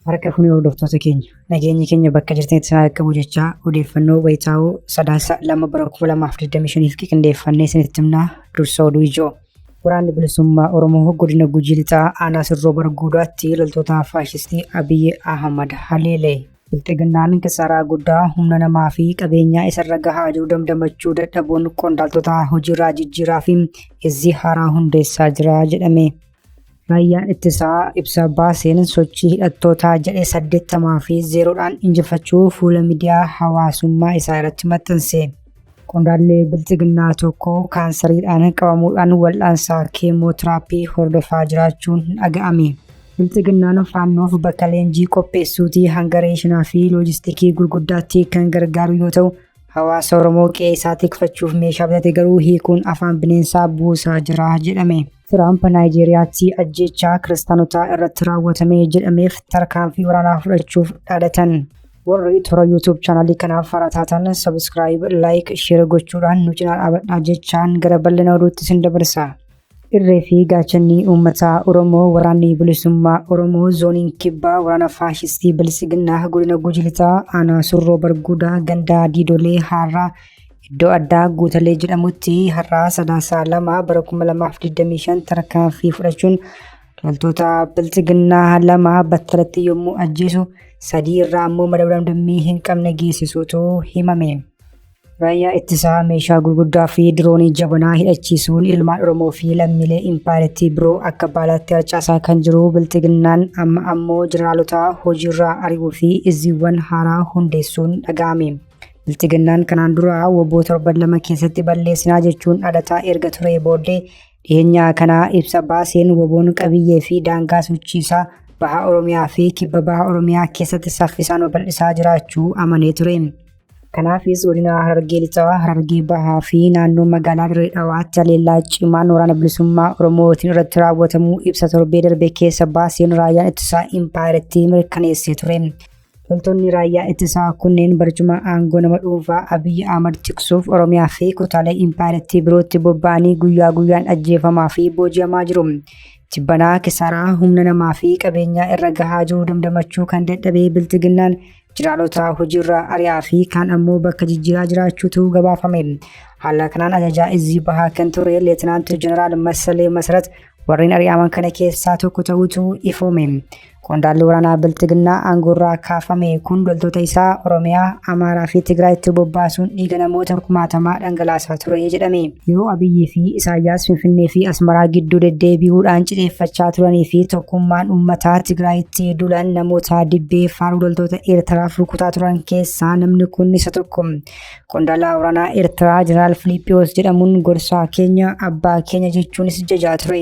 Harka fuunee hordoftoota keenya nageenyi keenya bakka jirtanitti isin haa qabu jechaa odeeffannoo wayitaawoo sadaasa lama bara kuma lamaaf digdamii shaniif qindeeffannee isinitti himnaa dursa oduu ijoo. Waraanni bilisummaa Oromoo godina Gujii Lixaa aanaa Sirroo Barguudaatti loltoota faashistii Abiyyi Ahmad haleelee. Bilxiginnaan kisaaraa guddaa humna namaa fi qabeenyaa isarra gahaa jiru damdamachuu dadhabuun qondaaltota hojiirraa jijjiiraa fi izzii haaraa hundeessaa jira jedhame. Raayyaan ittisaa ibsa baaseen sochii hidhattootaa jedhe 80 fi 0dhaan injifachuu fuula miidiyaa hawaasummaa isaa irratti maxxanse. Qondaallee bilxiginnaa tokko kaansariidhaan qabamuudhaan wal'aansaa keemootiraappii hordofaa jiraachuun dhaga'ame. Bilxiginnaan faannoof bakka leenjii qopheessuutii hanga reeshinaa fi loojistikii gurguddaatti kan gargaaru yoo ta'u, hawaasa Oromoo qe'ee isaa tikfachuuf meeshaa bitate garuu hiikuun afaan bineensaa buusaa jira jedhame. Tiraamp Naayijeeriyaatti ajjeechaa kiristaanotaa irratti raawwatame jedhameef tarkaanfii waraanaa fudhachuuf dhaadatan. Warri toora YouTube chaanalii kanaaf haaraa taatan sabiskiraayib, laayik, sheer gochuudhaan nu cinaa dhaabadhaa jechaan gara bal'ina oduutti sin dabarsa. Irree fi gaachanni uummataa Oromoo waraanni bilisummaa Oromoo zooniin kibbaa waraana faashistii bilisiginnaa godina Gujii Lixaa aanaa Surroo Barguudaa gandaa Diidolee Haarraa Iddoo addaa Guutalee jedhamutti har'aa Sadaasaa 2 bara 2025 tarkaanfii fudhachuun loltoota bilxiginnaa lama battalatti yommuu ajjeesu sadii irraa ammoo madabdam dammii hin qabne geessisuutu himame. Raayyaa ittisaa meeshaa gurguddaa fi diroonii jabanaa hidhachiisuun ilmaan Oromoo fi lammiilee impaayerattii biroo akka baalaatti harcaasaa kan jiru bilxiginnaan amma ammoo jeneraalota hojiirraa ari'uu fi izziiwwan haaraa hundeessuun dhaga'ame. Bilxiginnaan kanaan dura woboo torban lama keessatti balleessinaa jechuun dhalataa erga turee booddee dhiyeenyaa kanaa ibsa baaseen woboon qabiyyee fi daangaa sochiisaa baha Oromiyaa fi kibba baha Oromiyaa keessatti saffisaan babal'isaa jiraachuu amanee ture. Kanaafis godina Harargee Lixaa, Harargee Bahaa fi naannoo magaalaa Dirree Dhawaatti haleellaa cimaan waraana bilisummaa Oromootiin irratti raawwatamuu ibsa torbee darbe keessa baaseen raayyaan ittisaa impaayerittii mirkaneessee ture. Loltoonni raayyaa ittisaa kunneen barcuma aangoo nama dhuunfaa Abiyyi Ahmad tiksuuf Oromiyaa fi kutaalee impaayerattii birootti bobba'anii guyyaa guyyaan ajjeefamaa fi booji'amaa jiru. Tibbanaa kisaaraa humna namaa fi qabeenyaa irra gahaa jiru damdamachuu kan dadhabee bilxiginnaan jiraalotaa hojiirraa ari'aa fi kaan ammoo bakka jijjiiraa jiraachuutu gabaafame. Haala kanaan ajajaa izzii bahaa kan ture Leetinaanti Jeneraal Masalee Masarat warreen ari'aman kana keessaa tokko ta'uutu ifoome. Qondaalli waraanaa Bilxiginnaa aangoorraa kaafame kun loltoota isaa Oromiyaa, Amaaraa fi Tigraayitti bobbaasuun dhiiga namoota kumaatamaa dhangalaasaa ture jedhame. Yeroo Abiyyii fi Isaayyaas Finfinnee fi Asmaraa gidduu deddeebi'uudhaan cixeeffachaa turanii fi tokkummaan uummataa Tigraayitti dulan namoota dibbee faaruu loltoota Eertiraaf rukutaa turan keessaa namni kun isa tokko. Qondaalaa waraanaa Eertiraa Jeneraal Filiiphiyoos jedhamuun gorsaa keenya abbaa keenya jechuunis jajaa ture.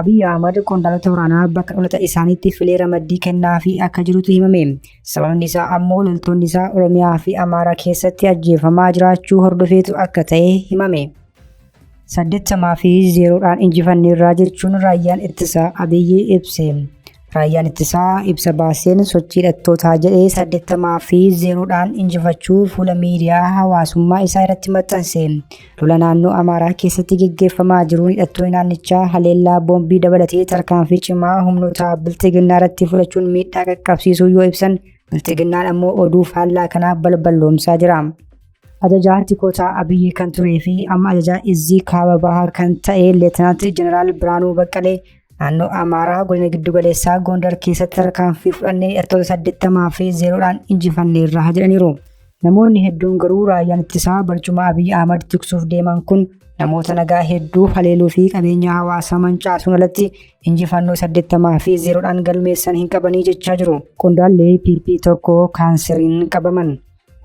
Abiy Ahmad qondaalota waraanaa bakka dhalata isaaniitti filee ramaddii kennaafii akka jirutu himame. Sababni isaa ammoo loltoonni isaa Oromiyaa fi Amaaraa keessatti ajjeefamaa jiraachuu hordofeetu akka ta'e himame. saddeettamaa fi zeeroodhaan injifanneerraa jechuun raayyaan ittisaa Abiyyi ibse. Raayyaan ittisaa ibsa baaseen sochii hidhattootaa jedhee 80 fi 0 dhaan injifachuu fuula miidiyaa hawaasummaa isaa irratti maxxanse. Lola naannoo Amaaraa keessatti geggeeffamaa jiruun hidhattoonni naannichaa haleellaa boombii dabalatee tarkaanfii cimaa humnoota bilxiginnaa irratti fudhachuun miidhaa qaqqabsiisuu yoo ibsan bilxiginnaan ammoo oduu faallaa kanaa balballoomsaa jira. Ajajaa tikoota Abiyyi kan turee fi amma ajajaa izzii kaaba bahaa kan ta'e Leetinaanti Jeneraal Biraanuu Baqqalee Naannoo Amaaraa godina giddugaleessaa Gondar keessatti tarkaanfii fudhannee hidhattoota saddeettamaa fi zeeroodhaan injifanneerra jedhaniiru. Namoonni hedduun garuu raayyaan ittisaa barcuma Abiy Ahmad tiksuuf deeman kun namoota nagaa hedduu haleeluu fi qabeenya hawaasaa mancaasuun alatti injifannoo saddeettamaa fi zeeroodhaan galmeessan hin qabanii jechaa jiru. Qondaallee PP tokko kaanseriin qabaman.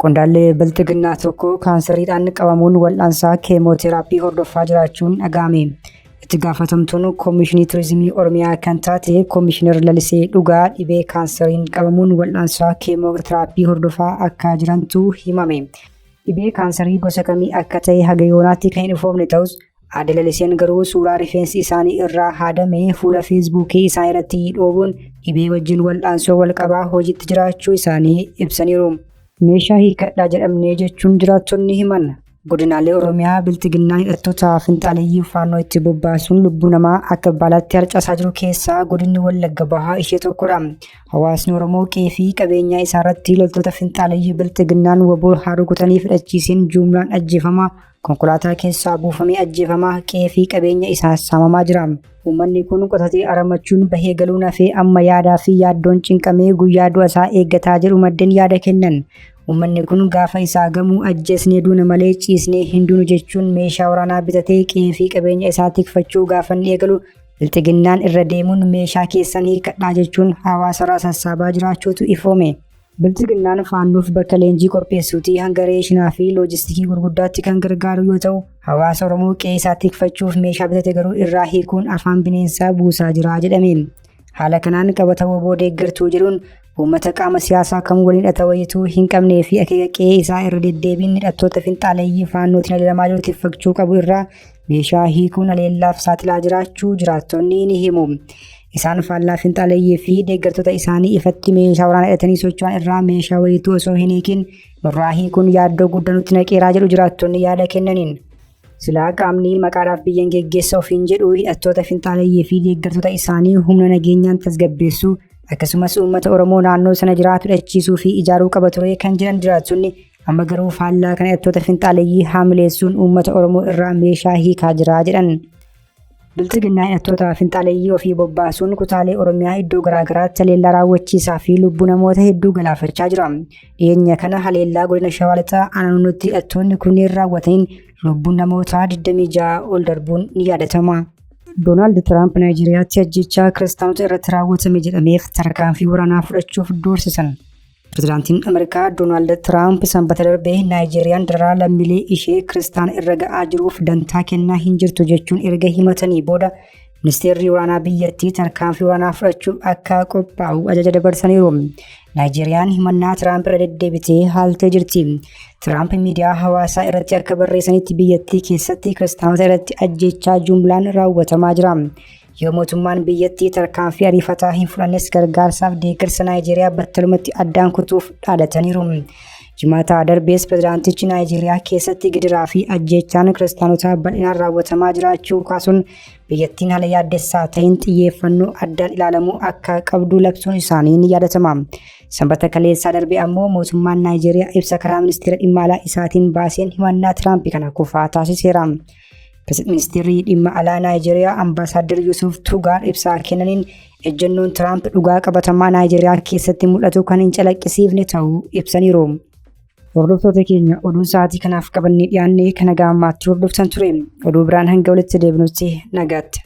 Qondaallee bilxiginnaa tokko kaansariidhaan qabamuun wal'aansaa keemooteraappii hordofaa jiraachuun dhaga'ame. Itti gaafatamtuun Koomishinii Turizimii Oromiyaa kan taate Koomishinar Lalisee Dhugaa dhibee kaansariin qabamuun wal'aansaa keemooteraappii hordofaa akka jirantu himame. Dhibee kaansarii gosa kamii akka ta'e haga yoonaatti kan hin ifoomne ta'us Aadde Laliseen garuu suuraa rifeensi isaanii irraa haadame fuula feesbuukii isaanii irratti dhoobuun dhibee wajjin wal'aansoo walqabaa hojiitti jiraachuu isaanii ibsaniiru. Meeshaa hiikkadhaa jedhamnee jechuun jiraattonni himan. Godinaalee Oromiyaa biltiginnaan hidhattoota finxaaleyyii faannoo itti bobbaasuun lubbuu namaa akka baalaatti harcaasaa jiru keessaa godinni Wallagga Bahaa ishee tokkodha. Hawaasni Oromoo qe'ee fi qabeenyaa isaarratti loltoota finxaaleyyii biltiginnaan waboo haa rukutanii fidhachiiseen juumlaan ajjeefamaa Konkolaataa keessaa buufamee ajjeefamaa qe'ee fi qabeenya isaa saamamaa jira. Uummanni kun qotatee aramachuun bahee galuun hafee amma yaadaa fi yaaddoon cinqamee guyyaa du'a isaa eeggataa jedhu maddeen yaada kennan. Uummanni kun gaafa isaa gamuu ajjeesnee duuna malee ciisnee hin duunu jechuun meeshaa waraanaa bitatee qe'ee fi qabeenya isaa tikfachuu gaafanni eegalu bilxiginnaan irra deemuun meeshaa keessan hiikkadhaa jechuun hawaasarraa sassaabaa jiraachuutu ifoome. Bilxiginnaan faannoof bakka leenjii qopheessuutii hanga reeshinaa fi loojistikii gurguddaatti kan gargaaru yoo ta'u, hawaasa Oromoo qe'ee isaa tikfachuuf meeshaa bitate garuu irraa hiikuun afaan bineensaa buusaa jira jedhame. Haala kanaan qabata woboo deeggartuu jedhuun uummata qaama siyaasaa kam waliin hidhata wayituu hin qabnee fi akeeka qe'ee isaa irra deddeebiin hidhattoota finxaaleeyyii faannootiin adeemamaa jiru tikfachuu qabu irraa Meeshaa hiikuun haleellaaf saaxilaa jiraachuu jiraattonni ni himu. Isaan faallaa finxaaleeyyii fi deeggartoota isaanii ifatti meeshaa waraanaa hidhatanii socho'an irraa meeshaa wayiituu osoo hin hiikin nurraa hiikuun yaaddoo guddaa nutti naqeeraa jedhu jiraattonni yaada kennaniin. Silaa qaamni maqaadhaaf biyyan geggeessa ofiin jedhu hidhattoota finxaaleeyyii fi deeggartoota isaanii humna nageenyaan tasgabbeessuu akkasumas uummata Oromoo naannoo sana jiraatu dhachiisuu fi ijaaruu qaba ture kan jedhan jiraattonni Amma garuu faallaa kana hidhattoota finxaaleyyii haamileessuun uummata Oromoo irraa meeshaa hiikaa jira jedhan. Bilxiginnaa hidhattoota finxaaleyyii ofii bobbaasuun kutaalee Oromiyaa iddoo garaagaraatti haleellaa raawwachiisaa fi lubbuu namoota hedduu galaafachaa jira. Dhiyeenya kana haleellaa godina Shawaa Lixaa aanaanutti hidhattoonni kunneen raawwataniin lubbuun namootaa 26 ol darbuun ni yaadatama. Doonaald Tiraamp Naayijeeriyaatti ajjechaa kiristaanota irratti raawwatame jedhameef tarkaanfii waraanaa fudhachuuf doorsisan. Pirezidaantiin Ameerikaa Doonaald Tiraamp sanbata darbe Naayijeeriyaan dararaa lammiilee ishee kiristaan irra ga'aa jiruuf dantaa kennaa hin jirtu jechuun erga himatanii booda ministeerri waraanaa biyyattii tarkaanfii waraanaa fudhachuuf akka qophaa'u ajaja dabarsaniiru. Naayijeeriyaan himannaa Tiraamp irra deddeebitee haaltee jirti. Tiraamp miidiyaa hawaasaa irratti akka barreessanitti biyyattii keessatti kiristaanota irratti ajjeechaa jumlaan raawwatamaa jira. Yoo mootummaan biyyattii tarkaanfii ariifataa hin fudhannes gargaarsaaf deeggarsa Naayijeeriyaa battalumatti addaan kutuuf dhaadataniiru. Jimaataa darbees pirezidaantichi Naayijeeriyaa keessatti gidiraa fi ajjeechaan kiristaanotaa bal'inaan raawwatamaa jiraachuu kaasuun biyyattiin haala yaaddessaa ta'een xiyyeeffannoo addaan ilaalamuu akka qabdu labsuun isaanii ni yaadatama. Sanbata kaleessaa darbe ammoo mootummaan Naayijeeriyaa ibsa karaa ministeera dhimma alaa isaatiin baaseen himannaa Tiraamp kana kufaa taasiseera. Ministeerri dhimma alaa Naayijeeriyaa Ambaasaadder Yusuuf Tugaar ibsaa kennaniin ejjennoon Tiraamp dhugaa qabatamaa Naayijeeriyaa keessatti mul'atu kan hin calaqqisiifne ta'uu ibsaniiru. Hordoftoota keenya oduun sa'aatii kanaaf qabannee dhiyaannee kan nagaa ammaatti hordoftan ture. Oduu biraan hanga walitti deebinutti nagaatti.